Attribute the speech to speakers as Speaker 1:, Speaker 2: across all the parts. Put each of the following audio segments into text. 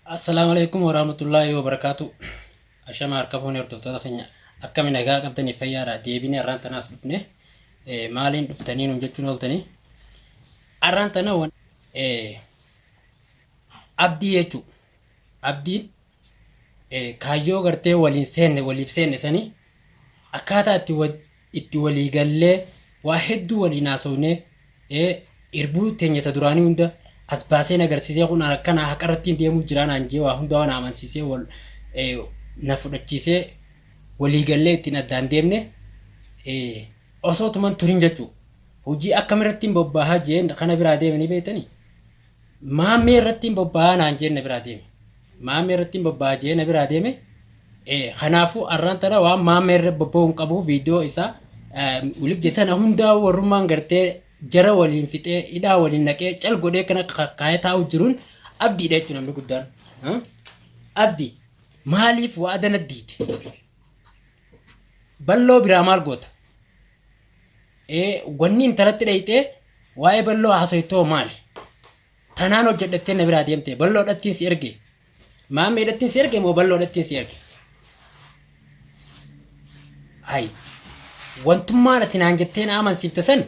Speaker 1: Assalaamu alaikum warahmatullaahi wabarakaatu. Ashama harka fuunee hordoftoota keenya akkami nagaa qabdanii fayyaadha deebinee har'aan tanaas dhufne eh, maaliin dhuftanii nuun jechuun ooltanii har'aan tana wan eh, abdii jechuu abdiin eh, kaayyoo gartee waliin seenne waliif seenne sanii akkaataa itti wa- itti walii gallee waa hedduu waliin haasofne irbuu teenya ta duraanii hunda as baasee na agarsiisee kun akkanaa haqa irrattiin deemuu jiraa naan jee waa hundaa na amansiisee wal na fudhachiisee walii gallee ittiin addaan deemne osoo tuman turin jechuu hojii akkamirattiin bobbaahaa jeen kana biraa deeme ni beektanii maammee irrattiin bobbaahaa naan jeen na biraa deeme. Maammee irrattin bobba'aa je'ee na biraa deeme. Kanaafuu arraan tana waan maammee irra bobba'uu hin qabu viidiyoo isaa wligde tana hundaa warrummaan gartee jara waliin fixee hidhaa waliin naqee cal godhee kana kaayee taa'uu jiruun abdiidha jechuun namni guddaan. Abdi maaliif waa adana diite? Balloo biraa maal goota? Wanni intalatti dhayxee waa'ee balloo haasoytoo maali? Tanaan hojjedhattee na biraa deemte balloodhattiin si erge maammeedhattiin si erge moo balloodhattiin si erge hay wantummaan ati naan jettee na amansiifte san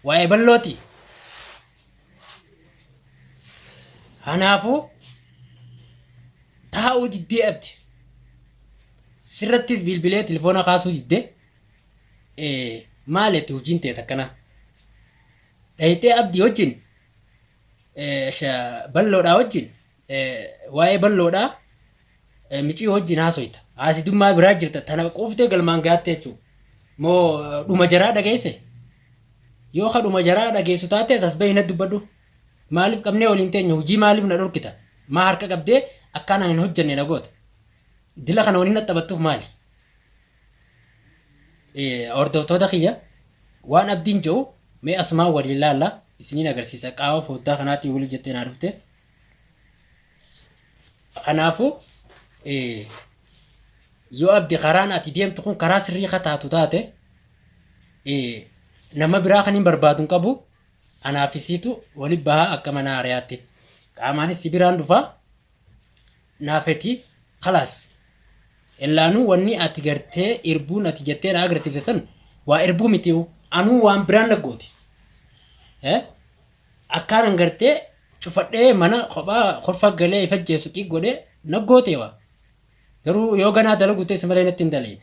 Speaker 1: waa'ee ballooti kanaafuu taa'uu diddee abdi sirrattis bilbilee telefoona kaasuu didde maaleetti hojiin ta'e takkana dhayxee abdii wajjin eh, sha- balloodhaa wajjin eh, waa'ee balloodhaa eh, micii wajjin haasoyta haasidummaa biraa jirta tana quuftee galmaan gaatte jechuudha moo eh, dhuma jaraa dhageesse yoo ka dhuma jaraa dhageessu taate as bahi na dubbadhu maaliif qabnee waliin teenya hojii maaliif na dhorkita maa harka qabdee akkaan ani hin hojjenne na goota dila kana waliin na taphattuuf maali Hordoftoota kiyya waan abdiin jedhu mee asumaan waliin laalla isiniin agarsiisa qaama foddaa kanaatiin waliin jettee naa dhufte. Kanaafuu yoo abdi karaan ati deemtu kun karaa sirrii ka taatu taate nama biraa kan hin barbaadu hin qabu anaafisiitu wali bahaa akka mana hariyaatti qaamaanis si biraan dhufaa. naa fetiif kalaas ellaanuu wannii ati gartee irbuun ati jettee naa agarsiifte san waa irbuu mitiyu anuu waan biraan na gooti Eh? akkaanan gartee cufadhee mana kophaa kolfa galee ifajjeessu xiiq godhee na gooteewa garuu yoo ganaa dalagu teesse malee natti hin daleeyne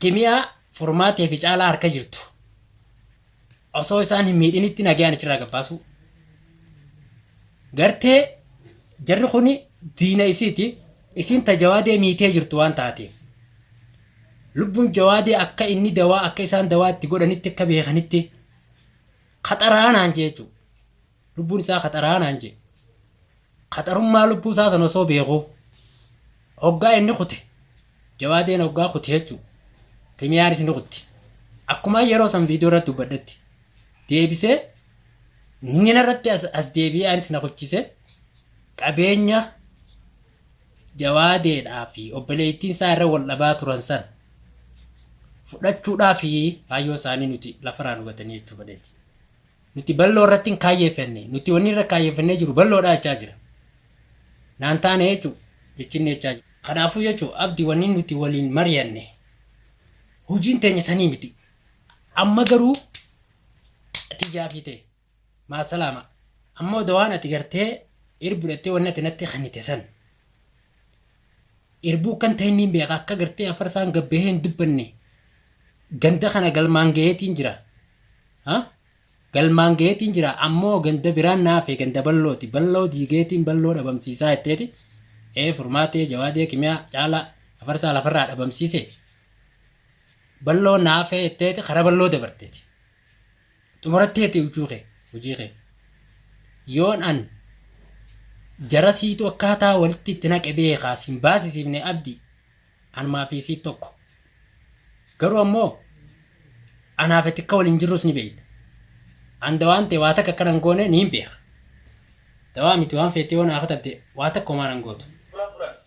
Speaker 1: Kimiyaa furmaatee fi caalaa harka jirtu osoo isaan hin miidhinitti nagayaan achirraa gabbaasuu. Gartee jarri kuni diina isiiti isiin ta jawaadee miitee jirtu waan taateef. Lubbuun jawaadee akka inni dawaa akka isaan dawaa itti godhanitti akka beekanitti kaxaraanaan jechuudha. Lubbuun isaa qaxaraa naan jee. Qaxarummaa lubbuu isaa san osoo beekuu. Hoggaa inni kute. Jawaadeen hoggaa kute jechuu. Kimiyaanis ni kutti. Akkuma yeroo san viidiyoo irratti dubbadhetti. Deebisee nina irratti as, as deebi'ee anis na kuchise. Qabeenya jawaadeedhaa fi obboleettiin isaa irra wal dhabaa turan san fudhachuudhaa fi kaayyoo isaanii nuti lafaraan hubatanii jechuu fedheeti. Nuti bal'oo irratti hin kaayyeeffanne. Nuti wanni irra kaayyeeffannee jiru bal'oodha jechaa jira. Naan taane jechu jechinni jechaa jira. Kanaafuu jechu abdi wanni nuti waliin mari'anne hujiin teenya sanii miti. Amma garuu tiyyaa fi tee maasalaama. Amma odoo waan ati gartee ir budhattee wanni ati natti kennite san Irbuu akkan tahe niin beeka akka gartee afarsaan gad bahee hin dubbanne ganda kana galmaan gaheetiin jira. Ha? Galmaan gaheetiin jira ammoo ganda biraan naafe ganda ballooti balloo diigeetiin balloo dhabamsiisaa jetteeti ee furmaatee jawaadee kimiyaa caalaa afarsaa lafarraa dhabamsiiseefi balloo naafee jetteeti kara balloo dabarteeti. Xumuratteeti huccuu kee, hojii kee. Yoon an jara siitu akkaataa walitti itti naqe beekaa sin baasisiifne abdi anumaa fi sii tokko. Garuu ammoo anaaf ati akka waliin jirrus ni beekta. An dawaan tee waa takka akka nan goone niin beeka. Dawaa miti waan feete yoo naa katabde waa takka homaa nan gootu.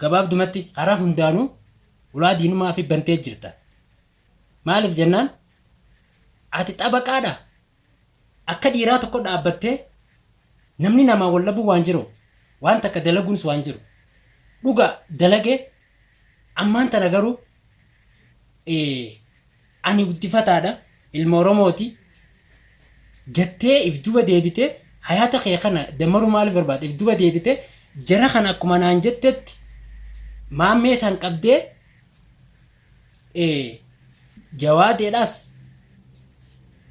Speaker 1: Gabaabdumatti karaa hundaanuu ulaa diinumaafi bantee jirta. Maaliif jennaan ati xabaqaadha. Akka dhiiraa tokko dhaabbattee namni namaa wal dhabuun waan jiru, waan takka dalaguunis waan jiru. Dhugaa dalagee Ammaan tana garuu ani guddifataadha, ilma Oromooti jattee if duba deebitee hayaata kee kana dammaruu maaliif barbaadde? If duba deebitee jara kana akkuma naan jettetti maammee isaan qabdee jawaadeedhaas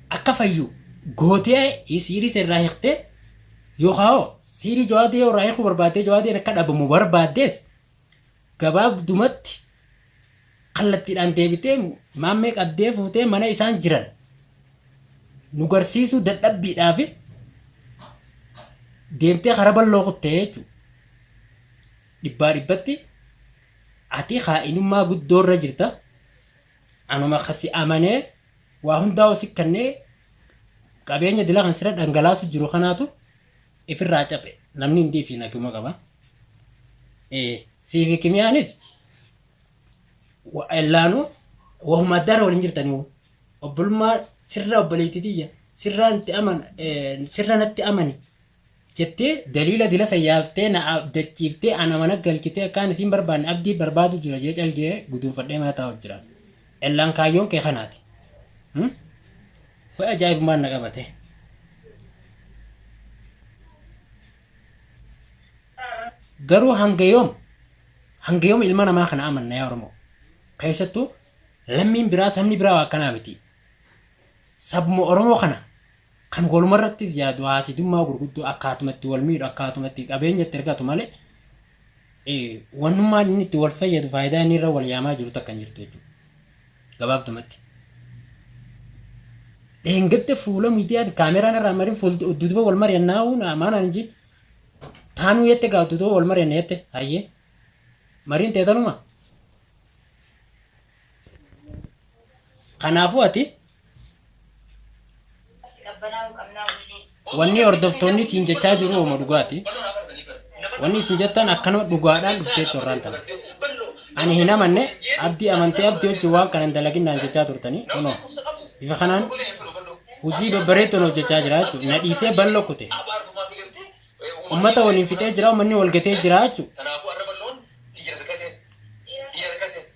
Speaker 1: akka fayyu gootee siirii isa irraa hiiktee yookaan hoo siirii jawaadee yoo irraa hiikuu barbaaddee jawaadeen akka dhabamu barbaaddees gabaabdumatti kallattiidhaan deebitee maammee qabdee fuutee mana isaan jiran nu garsiisuu dadhabbiidhaaf deemtee kara balloo kuttee jechuudha. Dhibbaa dhibbatti ati kaa'inummaa guddoo irra jirta. Anuma kasi amanee waa hundaa si kannee qabeenya dila kan sirra dhangalaasu jiru kanaatu ifirraa caphe namni hundii fi naguma qaba ee siifi kimiyaanis wa- ellaanu wahuma addaarra waliin jirtanii hoo obbolummaa sirra obboleetti tiyya sirraa natti aman ee, sirra natti amani jettee daliila dila sayyaaftee na abdachiiftee ana mana galchitee akkaan isiin barbaanne abdii barbaadu jira jee calgee guduunfadhee mana taa'u jira ellaan kaayyoon kee kanaati Hmm? Way ajaa'ibummaan na qabate. Garuu hanga yoom hanga yoom ilma namaa kana amanna yaa Oromoo? Keessattuu lammiin biraa sabni biraa waa akkanaa miti. Sabuma Oromoo kana kan walumarrattis yaadu haasidummaa gurguddoo akkaatumatti wal miidhu akkaatumatti qabeenya itti argatu malee eh, wannummaan inni itti wal fayyadu faayidaa inni irra wal yaamaa jiru takka hin jirtu jechuudha. Gabaabdumatti, dheengadda fuula miidiyaatti kaameraan irraa marin fuulti udduuduba wal mari'annaa uun maan aan jin taanuu yette gaa udduuduba wal mari'anna yette hayyee mariin teetanuma kanaafuu ati Wanni hordoftoonni siin jechaa jiru hooma dhugaati. Wanni isin jettan akkanuma dhugaadhaan dhuftee torraan tana. Ani hin amanne abdii amantee abdii wajjin waan kana hin dalaginnaan jechaa turtanii kunoo bifa kanaan hojii babbareeddoon hojjechaa jira jechuudha. Na dhiisee ballo kute. Uummata waliin fixee jira uummanni wal gatee jira jechuudha.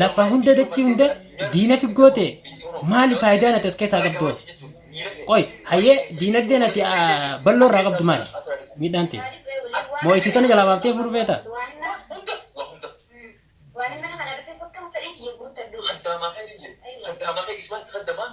Speaker 1: Lafa hunda dachii hunda diinafi goote maali faayidaan ati as keessaa qabdu hoo? Qoy hayyee diinagdeen ati balloo irraa qabdu maali? Miidhaan ta'e. Moo isii tana jalaa baaftee fuudhu feeta? Waan mana kana dhufee bakka fedhetti ya guuttadhu. Haddaamaa kee dhiyye. Haddaamaa kee iswaan si haddamaan.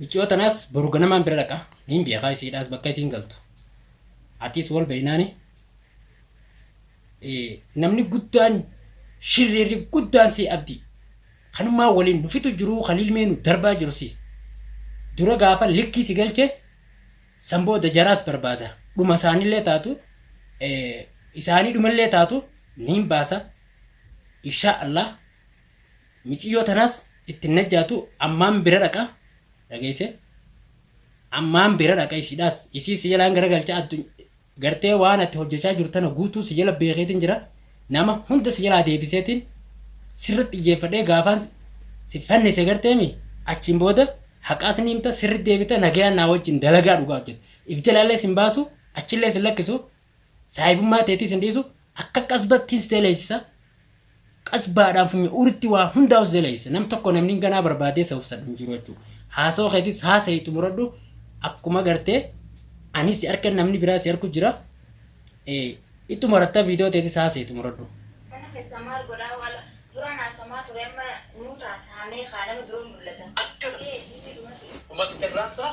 Speaker 1: Micciyoo tanaas boru ganamaan bira dhaqa. Niin beekaa isiidhaas bakka isiin galtu. Atiis wal beeynaani. Namni guddaan shirreerri guddaan si abdii. Kanumaa waliin nu fixu jiruu kaliil mee nu darbaa jiru si. Dura gaafa likkii si galche san booda jaraas barbaada. Dhuma isaanillee taatu isaanii dhumallee taatu niin baasa. Inshaa Allah. Miciyyoo tanaas itti hin najjaatu ammaan bira dhaqa dhageeyse ammaan bira dhaqa isiidhaas isii si jalaan gara galcha adduny gartee waan ati hojjachaa jirtu tana guutuu si jala beekeetiin jira nama hunda si jalaa deebiseetiin sirratti ijjeeffadhee gaafaan si fannise garteemi achiin booda haqaas ni himta sirri deebita nagayaan naa wajjin dalagaa dhugaa hojjete if jalaallee sin baasu achillee sin lakkisu Saahibummaa teetis hin dhiisu, akka qasbattiin si deleessisa, qasbaadhaan funya uritti waa hundaa'u si deleessisa. Nam tokko namni ganaa barbaadee isa obsadhu hin jiru jechuudha. Haasawa keetis haasa'i xumuradhu akkuma gartee anis si arkan namni biraa si arku jira. Eh, Ittu maratta viidiyoo teetis haasa'i xumuradhu. Kana keessaa maal
Speaker 2: godhaa waala duraan haasamaa ture amma nuu taasahamee kaa nama dura
Speaker 3: mul'ata. Akkana. Ee, inni dhumate. Dhumatu carraan isaa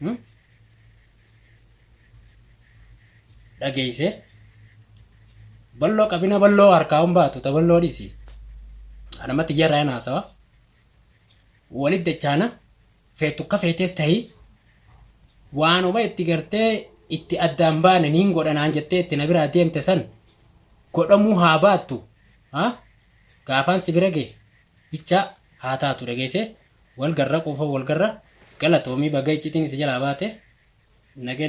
Speaker 1: Hmm? dhageeyse balloo qabina balloo harkaa hin baatu ta balloo dhiisi anamatti iyyarraa hin haasawa walit dachaana feetu akka feetes tahi waanuma itti gartee itti addaan baane niin godhanaan jettee itti na biraa deemte san godhamuu haa baattu ha gaafaan si bira gee bichaa haa taatu dhageeyse Wal garra quufoo wal garra galatoomi baga iccitiin si jalaa baate nagen